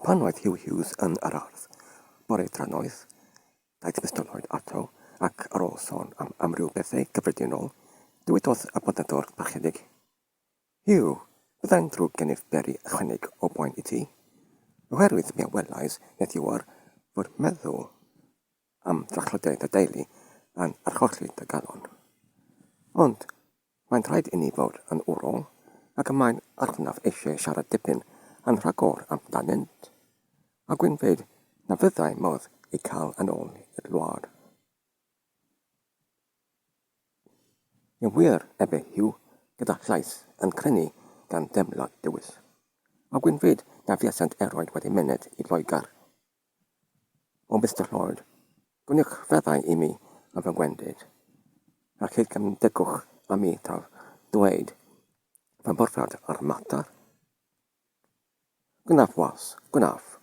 Pan oedd Huw Hughes yn yr ardd bore drannoeth, daeth Mister Lloyd ato ac ar ôl sôn am amryw bethau cyffredinol, dywedodd y Bontneddwr Parchedig, Huw, byddai'n ddrwg gennyf beri ychwaneg o boen i ti, oherwydd mi a welais heddiw'r fod meddwl am drachlydiau dy deulu yn archollti dy galon. Ond mae'n rhaid inni fod yn wrol ac y mae'n arnaf eisiau siarad dipyn yn rhagor amdanynt, a gwynfeid na fyddai modd eu cael yn ôl i'r wlad. Yn wir, efe Huw, gyda llais yn crynu gan deimlad dywys. A gwynfeid na fuasant eroed wedi myned i Loegr O Mister Lloyd, gwnewch feddau i mi ar fy ngwendid, a chyd gymdygwch â mi taf dweyd fy mhrofiad a'r mater. Gwnaf was, gwnaf.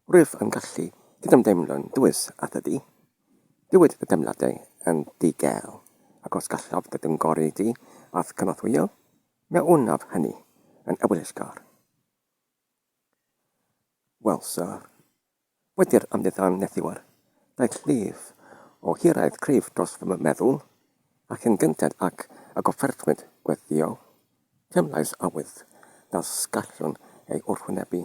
Rwyf yn gallu cydymdeimlo'n dwys â thydi. Dywyd dy deimladau yn ddi-gel, ac os gallaf dy gyngori di a'th cynorthwyo, mi a wnaf hynny yn ewyllgar. Welsa wedi'r amddiffyn nethiwr, daeth llif o hiraeth cryf dros fy meddwl, ac yn gynted ag y goffertwyd gweddïo, teimlais awydd na sgallwn ei wrthwynebu,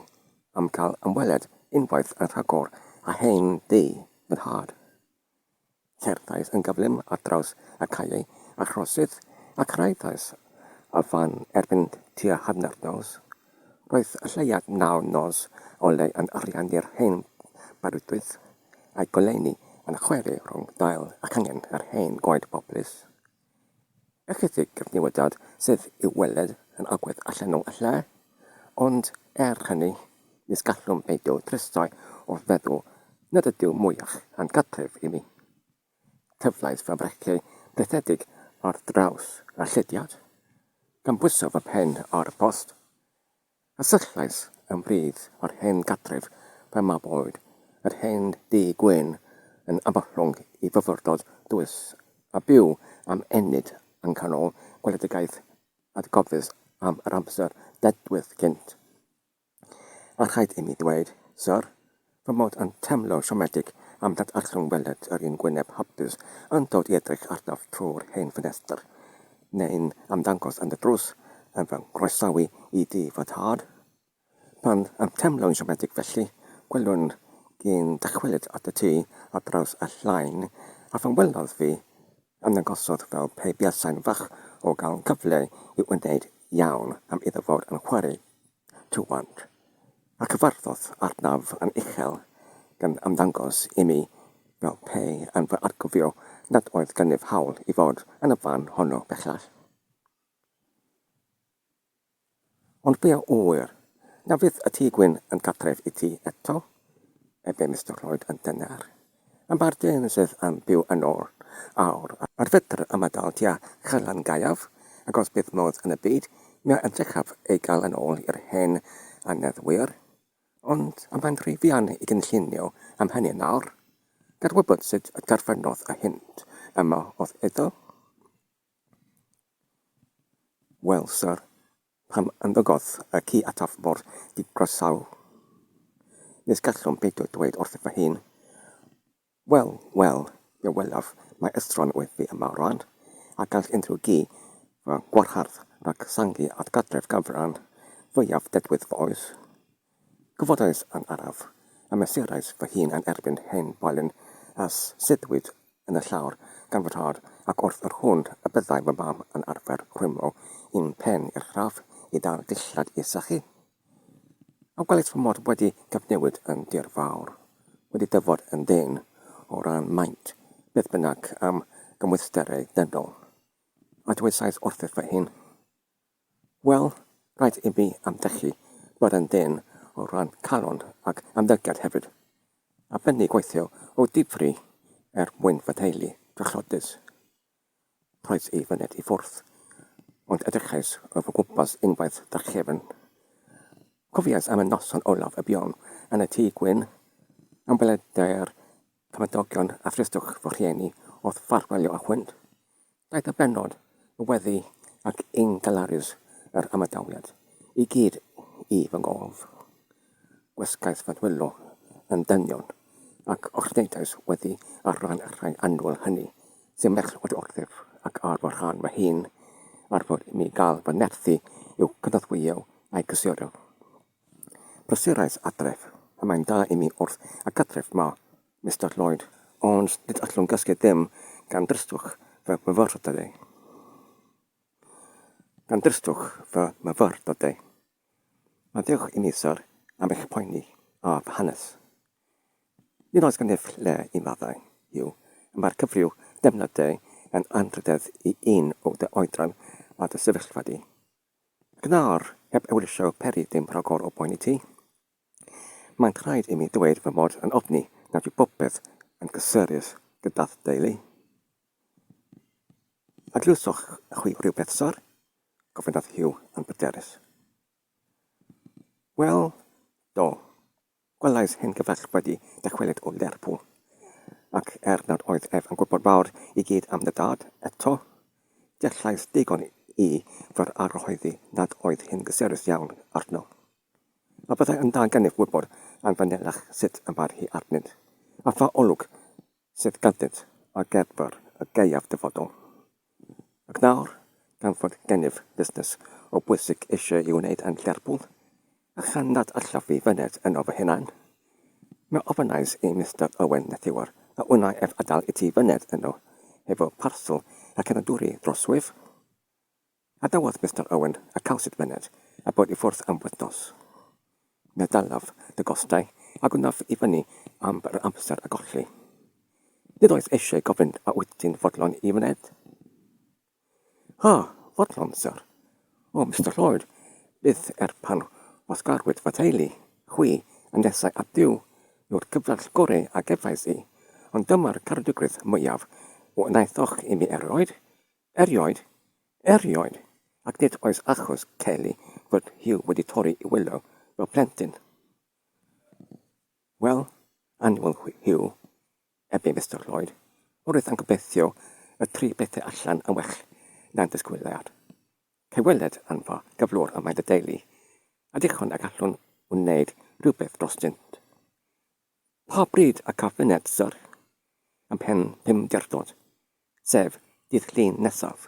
am gael ymweliad unwaith yn rhagor â hen dŷ fy nhad. Cerddais yn gyflym ar draws y caeau a throseddau a chyrhaeddais y fan erbyn tua hanner nos. Roedd y lleuad naw nos o le yn ariannu'r hen barudwydd a'i goleuni yn chweri rhwng dail a changen yr hen goed poplys. Ychydig cyfnewidiad sydd i'w weld yn agwedd allanol y lle, ond er hynny, nis gallwn beidio tristau wrth feddwl nad ydyw mwyach na'n cartref i mi. Tyflais fy mhrecei brithedig ar draws y llediad, gan bwyso fy mhen ar y post, A syllais yn frith o'r hen gartref pan mab oed, yr hen dŷ gwyn yn Aberllwng i fyfyrdod dwys a byw am ennyd yng nghanol gweledigaeth atgofus am yr amser dedwydd cynt. A rhaid imi ddweud, Syr, fy mod yn teimlo siomedig am dad a rhyngweled yr un gwyneb hapus yn dod i edrych arnaf trwy'r hen ffenestr, neu'n ymddangos yn y drws yn fy nghroesawu i dŷ fy nhad. Pan yw'n teimlo'n siomedig felly, gwelwn i'n dychwelyd at y tŷ ar draws y llain, a phan welodd fi, ymddangosodd fel pe buasai'n falch o gael cyfle i wneud iawn am iddo fod yn chwarae. Tywant, a chyfarfodd arnaf yn uchel, gan ymddangos i mi fel pe yn fy atgofio nad oedd gennyf hawl i fod yn y fan honno bellach. Ond fe a ŵyr, na fydd y Tŷ Gwyn yn gartref i ti eto? efe Mister Lloyd yn dyner. Am ba'r dyn sydd yn byw yn ôl awr ar fedr ymadael tua Chaerllan Gaeaf, ac os bydd modd yn y byd, mi a edrychaf ei gael yn ôl i'r hen aneddwyr. Ond am mae'n rhy fuan i gynllunio am hynny nawr. Gad wybod sut y terfynodd y hint yma o'th iddo. Wel, syr. Pam ymddygodd y ci ataf mor ddigroesaw? Nes gallwn beidio dweud wrth fy hun, 'Wel, wel, fe welaf mai estron oedd fi yma o ran, a gall unrhyw gi fy ngwarhardd rhag sangu at gartref ganfran fwyaf dedwydd fy oes. Gofodais yn araf, a mesurais fy hun yn erbyn hen boelyn a suddiwyd yn y llawr gan fy nhad, ac wrth yr hwn y byddai fy mam yn arfer rhwymo un pen i'r llaf i ddal dillad i sychu. A welais fy mod wedi cyfnewid yn dir fawr, wedi dyfod yn ddyn, o ran maint, beth bynnag am gymwysterau dynol. A dywedais wrthyf fy hun, Wel, rhaid imi ymdrechu bod yn dân o ran calon ac ymddygiad hefyd, a bennu gweithio o difri er mwyn fy nheulu drychlodus. Rhoes i fy ned i ffwrdd, ond edrychais o fy ngwmpas unwaith drachefn. Cofiais am y noson olaf y buom yn y tŷ gwyn, am weledai'r Cymdogion a thristwch fy rhieni wrth ffarwelio â hwynt. Daeth y bennod, y weddi ac yn galarus yr ymadawiad, i gyd i fy ngorf. Gwasgais fy nhwyllo yn dynion, ac ochrydnegais weddi ar ran y rhai annwyl hynny sy'n merched wrthyf, ac ar fy rhan fy hun, ar fod i mi gael fy nerthu i'w cynorthwyo a'i gysuro. Prysurais adref. Y mae'n da i mi wrth y cartref 'ma, Mister Lloyd, ond nid allwn gysgu ddim gan dristwch fy myfyrdodau. Gan dristwch fy myfyrdodau. Maddeuwch i mi, syr, am eich poeni a fy hanes. Nid oes gennyf lle i maddau, Huw, y mae'r cyfryw defnyddiau yn anrhydedd i un o dy oedran a dy sefyllfa di. Gwnâr, heb ewyllysio peri dim rhagor o boen i ti. Maent rhaid imi ddweud fy mod yn ofni nad yw popeth yn gysurus gyda'th deulu. A glywsoch chwi rywbeth, syr? gofynnodd Hugh yn bryderus. Wel, do, Gwelais hen gyfaill wedi dychwelyd o Lerpwl, ac er nad oedd ef yn gwybod mawr i gyd am dy dad eto, deallais digon i fy arhoeddi nad oedd hi'n gysurus iawn arno. A fyddai yn dda gennyf wybod am fanylach sut y mae'r hi arnynt, a pha olwg sydd ganddynt ar gyfer y gaeaf dyfodol. Ac nawr, gan fod gennyf fusnes o bwysig eisiau ei wneud yn Lerpwl, a chan nad allaf fi fyned yno fy hunain, mi ofynnais i Mister Owen Nethiwr a wnai ef adael i ti fyned yno hefo parsel ac yna dwri dros wyf? Gadawodd Mister Owen y cawsid myned a bod i ffwrdd am wythnos. Meddalaf dy gostau a gwnaf i fyny am yr amser a golli. Nid oes eisiau gofyn a wyt ti'n fodlon i fyned? Ha, fodlon, syr. O, Mister Lloyd, byth er pan wasgarwyd fy theulu, chwi, a nesai at Dduw, yw'r cyflall goreu a gefais i, ond dyma'r caredigrwydd mwyaf wnaethoch i mi erioed, Erioed, erioed, ac nid oes achos Kelly fod hi wedi torri i wylo fel plentyn. Wel, annual Hugh, ebe Mister Lloyd, wrth yn gobeithio y tri bethau allan yn well na'n disgwyliad. Cyweled yn fa gyflwr y mae dy deulu, a dichon y gallwn wneud rhywbeth drostynt. Pa bryd y caf fyned Syr ym mhen Pumderdod, sef dydd Llun nesaf?